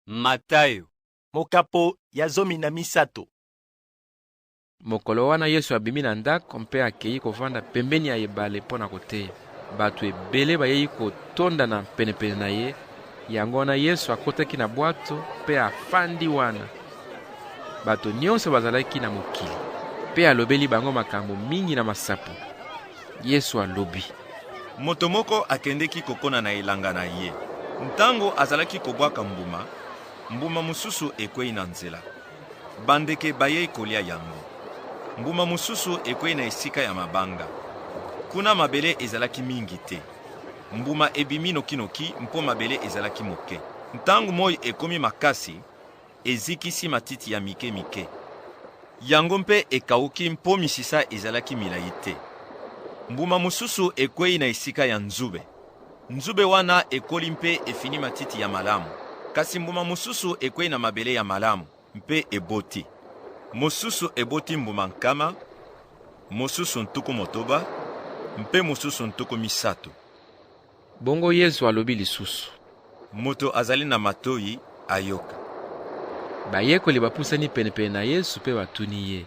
Matayo. Mokapo ya zomi na misato. Mokolo wana Yesu abimi na ndako mpe akei kovanda pembeni ya ebale mpo na koteya. Bato ebele bayei kotondana penepene na ye, yango wana Yesu akotaki na bwato mpe afandi wana. Bato nyonso bazalaki na mokili, mpe alobeli bango makambo mingi na masapo. Yesu alobi. Moto moko akendeki kokona na elanga na ye. Ntango azalaki kobwaka mbuma, mbuma mosusu ekwei na nzela. Bandeke bayei kolia yango. Mbuma mosusu ekwei na esika ya mabanga. Kuna mabele ezalaki mingi te. Mbuma ebimi nokinoki mpo mabele ezalaki moke. Ntango moi ekomi makasi, Ezikisi matiti ya mike mike. Yango mpe ekauki mpo misisa ezalaki milai te. Mbuma mosusu ekwei na esika ya nzube. Nzube wana ekoli mpe efini matiti ya malamu. Kasi mbuma mosusu ekwei na mabele ya malamu mpe eboti. Mosusu eboti mbuma nkama, mosusu ntuku motoba, mpe mosusu ntuku misato. Bongo Yezu alobi lisusu. Moto azali na matoyi ayoka. Bayekoli bapusani penepene na Yesu mpe batuni ye.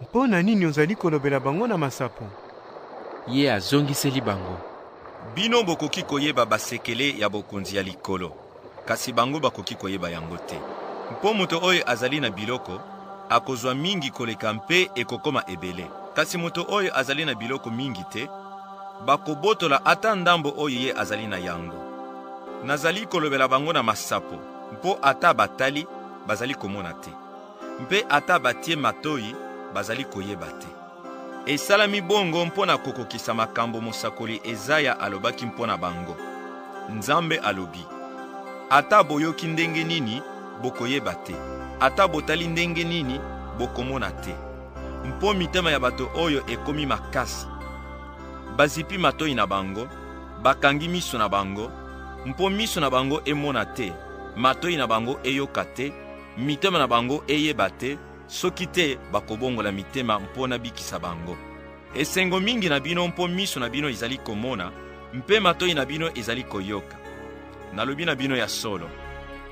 Mpo na nini ozali kolobela bango na masapo? Ye azongiseli bango. Bino bokoki koyeba basekele ya bokonzi ya likolo. kasi bango bakoki koyeba yango te. Mpo moto oyo azali na biloko akozwa mingi koleka mpe ekokoma ebele, kasi moto oyo azali na biloko mingi te, bakobotola ata ndambo oyo ye azali na yango. Nazali kolobela bango na masapo, mpo ata batali bazali komona te, mpe ata batie matoyi bazali koyeba te. Esalami bongo mpo na kokokisa makambo mosakoli Ezaya alobaki mpo na bango. Nzambe alobi, ata boyoki ndenge nini, bokoyeba te, ata botali ndenge nini, bokomona te, mpo mitema ya bato oyo ekomi makasi. Bazipi matoi na bango, bakangi miso na bango, mpo miso na bango emona te, matoi na bango eyoka te, mitema na bango eyeba te, Soki te, bakobongola mitema mpo nabikisa bango. Esengo mingi na bino mpo miso na bino izali komona mpe matoi na bino ezali koyoka. Nalobi na bino ya solo,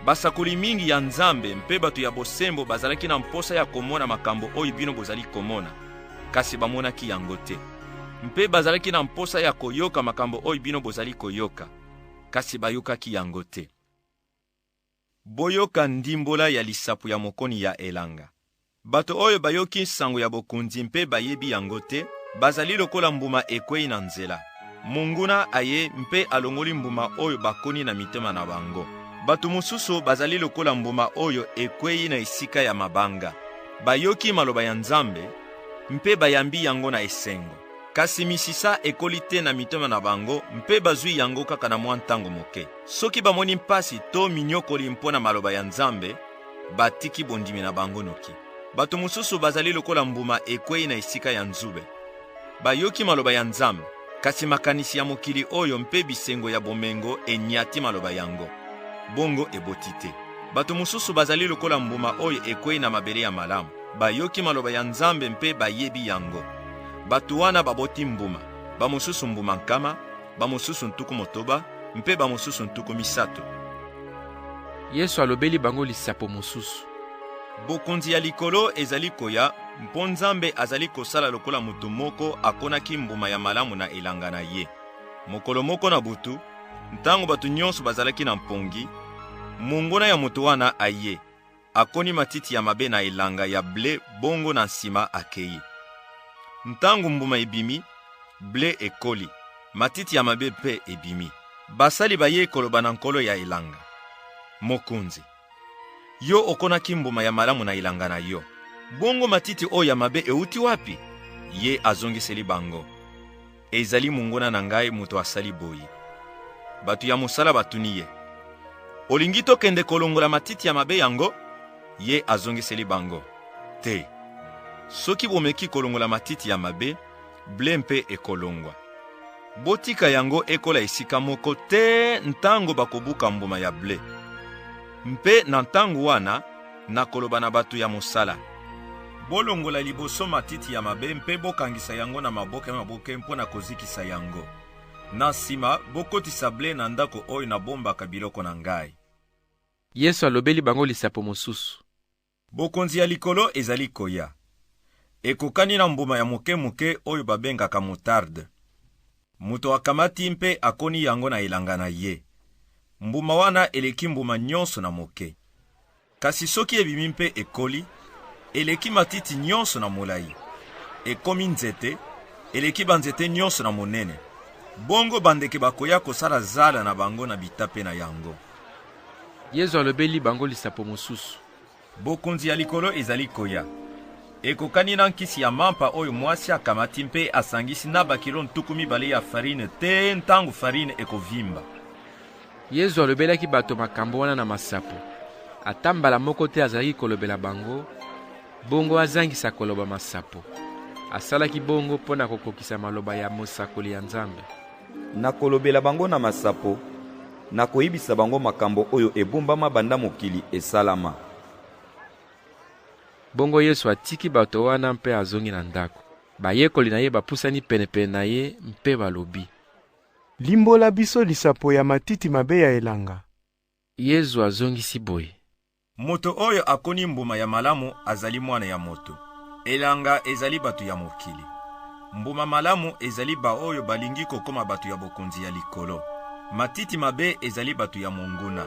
basakoli mingi ya Nzambe mpe bato ya bosembo bazalaki na mposa ya komona makambo oyo bino bozali komona, kasi bamonaki yango te. Mpe bazalaki na mposa ya koyoka makambo oyo bino bozali koyoka, kasi bayokaki yango te. Boyoka ndimbola ya lisapo ya mokoni ya elanga. Bato oyo bayoki nsango ya bokonzi mpe bayebi yango te bazali lokola mbuma ekwei na nzela. Monguna aye mpe alongoli mbuma oyo bakoni na mitema na bango. Bato mosusu bazali lokola mbuma oyo ekwei na esika ya mabanga. Bayoki maloba ya Nzambe mpe bayambi yango na esengo. Kasi misisa ekoli te na mitema na bango mpe bazwi yango kaka na mwa ntango moke. Soki bamoni mpasi to minyokoli mpo na maloba ya Nzambe, batiki bondimi na bango noki. Bato mosusu bazali lokola mbuma ekwei na esika ya nzube. Bayoki maloba ya Nzambe, kasi makanisi ya mokili oyo mpe bisengo ya bomengo enyati maloba yango. Bongo eboti te. Bato mosusu bazali lokola mbuma oyo ekwei na mabele ya malamu. Bayoki maloba ya Nzambe mpe bayebi yango. Bato wana baboti mbuma, bamosusu mbuma nkama, bamosusu ntuku motoba, mpe bamosusu ntuku misato. Yesu alobeli bango lisapo mosusu. Bokonzi ya likolo ezali koya mpo Nzambe azali kosala lokola moto moko akonaki mbuma ya malamu na elanga na ye. Mokolo moko na butu, ntango bato nyonso bazalaki na mpongi, monguna ya moto wana aye. akoni matiti ya mabe na elanga ya ble, bongo na nsima akei. Ntango mbuma ebimi, ble ekoli, matiti ya mabe mpe ebimi. Basali bayei koloba na nkolo ya elanga, Mokonzi, yo okonaki mbuma ya malamu na elanga na yo, bongo matiti oyo ya mabe euti wapi? Ye azongiseli bango, Ezali monguna na ngai moto asali boye. Bato ya mosala batuni ye, olingi tokende kolongola matiti ya mabe yango? Ye azongiseli bango, te. Soki bomeki kolongola matiti ya mabe, ble mpe ekolongwa. Botika yango ekola esika moko te ntango bakobuka mbuma ya ble. Mpe na ntango wana na koloba na bato ya mosala. Bolongola liboso matiti ya mabe mpe bokangisa yango na maboke maboke mpo na kozikisa yango. Na nsima, bokotisa ble na ndako oyo nabombaka biloko na ngai. Yesu alobeli bango lisapo mosusu. Bokonzi ya likolo ezali koya. Ekokani na mbuma ya moke moke oyo babengaka motarde. Moto akamati mpe akoni yango na elanga na ye. Mbuma wana eleki mbuma nyonso na moke. Kasi soki ebimi mpe ekoli, eleki matiti nyonso na molai. Ekomi nzete, eleki banzete nyonso na monene. Bongo bandeke bakoya kosala zala na bango na bitape na yango. Yezu alobeli bango lisapo mosusu. Bokonzi ya likolo ezali koya. Ekokani na nkisi ya mampa oyo mwasi akamati mpe asangisi na bakilo ntuku mibale ya farine te ntango farine ekovimba. Yezu alobelaki bato makambo wana na masapo. Ata mbala moko te azalaki kolobela bango bongo azangisa koloba masapo. Asalaki bongo mpo na kokokisa maloba ya mosakoli ya Nzambe. Nakolobela bango na masapo, nakoyebisa bango makambo oyo ebombama banda mokili esalama. Bongo Yesu atiki bato wana mpe azongi na ndako. Bayekoli na ye bapusani penepene na ye mpe balobi. Limbola biso lisapo ya matiti mabe ya elanga. Yezu azongisi boye. Moto oyo akoni mbuma ya malamu azali mwana ya moto. Elanga ezali bato ya mokili. Mbuma malamu ezali baoyo balingi kokoma bato ya bokonzi ya likolo. Matiti mabe ezali bato ya monguna.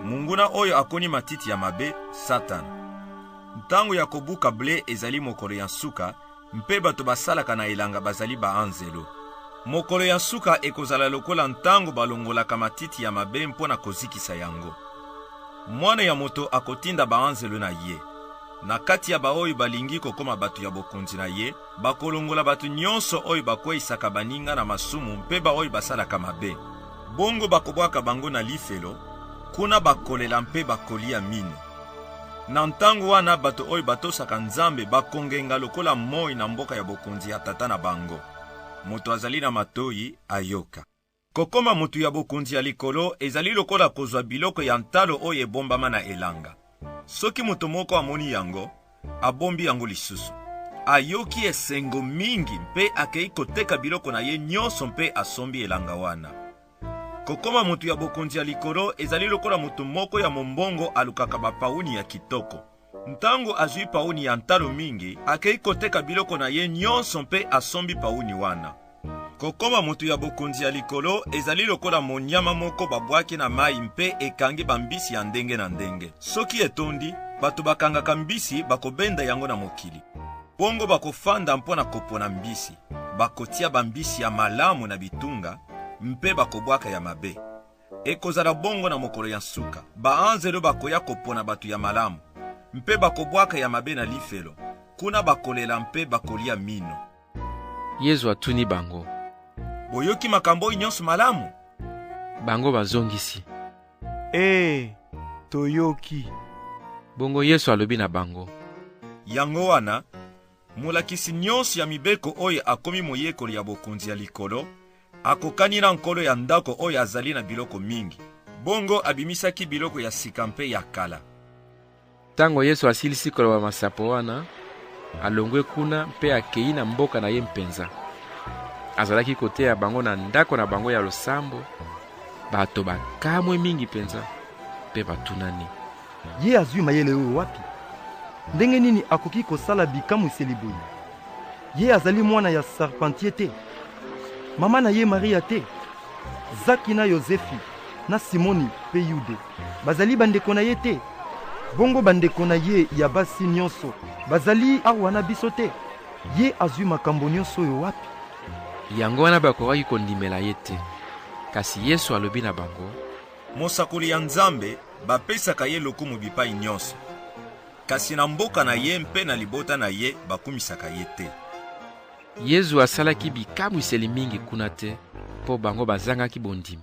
Monguna oyo akoni matiti ya mabe, Satana. Ntango ya kobuka ble ezali mokolo ya nsuka, Mpe bato basalaka na elanga bazali baanzelu. Mokolo ya nsuka ekozala lokola ntango balongolaka matiti ya mabe mpo na kozikisa yango. Mwana ya moto akotinda baanzelu na ye. Na kati ya baoyo balingi kokoma bato ya bokonzi na ye, bakolongola bato nyonso oyo bakweisaka baninga na masumu mpe baoyo basalaka mabe. Bongo bakobwaka bango na lifelo, kuna bakolela mpe bakolia mino. Na ntango wana, bato oyo batosaka Nzambe bakongenga lokola moi na mboka ya bokonzi ya Tata na bango. Moto azali na matoi, ayoka. Kokoma moto ya bokonzi ya likolo ezali lokola kozwa biloko ya ntalo oyo ebombama na elanga. Soki moto moko amoni yango, abombi yango lisusu. Ayoki esengo mingi mpe akei koteka biloko na ye nyonso mpe asombi elanga wana. Kokoma moto ya bokonzi ya likolo ezali lokola moto moko ya mombongo alukaka bapauni ya kitoko. Ntango azwi pauni ya ntalo mingi, akei koteka biloko na ye nyonso mpe asombi pauni wana. Kokoma moto ya bokonzi ya likolo ezali lokola monyama moko babwaki na mai mpe ekangi bambisi ya ndenge na ndenge. Soki etondi, bato bakangaka mbisi bakobenda yango na mokili. Bongo bakofanda mpo na kopona mbisi. bakotia bambisi ya malamu na bitunga mpe bakobwaka ya mabe. Ekozala bongo na mokolo ya nsuka. Baanzelu bakoya kopona bato ya malamu, mpe bakobwaka ya mabe na lifelo. Kuna bakolela mpe bakolia mino. Yezu atuni bango, Boyoki makambo oyo nyonso malamu? Bango bazongisi, Ee, toyoki. Bongo Yesu alobi na bango, Yango wana, Molakisi nyonso ya mibeko oyo akomi moyekoli ya bokonzi ya likolo akokani na nkolo ya ndako oyo azali na biloko mingi. Bongo abimisaki biloko ya sika mpe ya kala. Ntango Yesu asilisi koloba masapo wana, alongwe kuna mpe akei na mboka na ye mpenza. Azalaki koteya bango na ndako na bango ya losambo. Bato bakamwe mingi mpenza mpe batunani. Ye azwi mayele oyo wapi? Ndenge nini akoki kosala bikamwiseli boye? Ye azali mwana ya Sarpantie te? Mama na ye Maria te? Zaki na Yozefi na Simoni mpe Yude bazali bandeko na ye te? Bongo bandeko na ye ya basi nyonso bazali awa na biso te? Ye azwi makambo nyonso oyo wapi? Yango wana bakokaki kondimela ye te. Kasi Yesu alobi na bango, Mosakoli ya Nzambe bapesaka ye lokumu bipai nyonso, kasi na mboka na ye mpe na libota na ye bakumisaka ye te. Yezu asalaki bikamwiseli mingi kuna te, mpo bango bazangaki bondimi.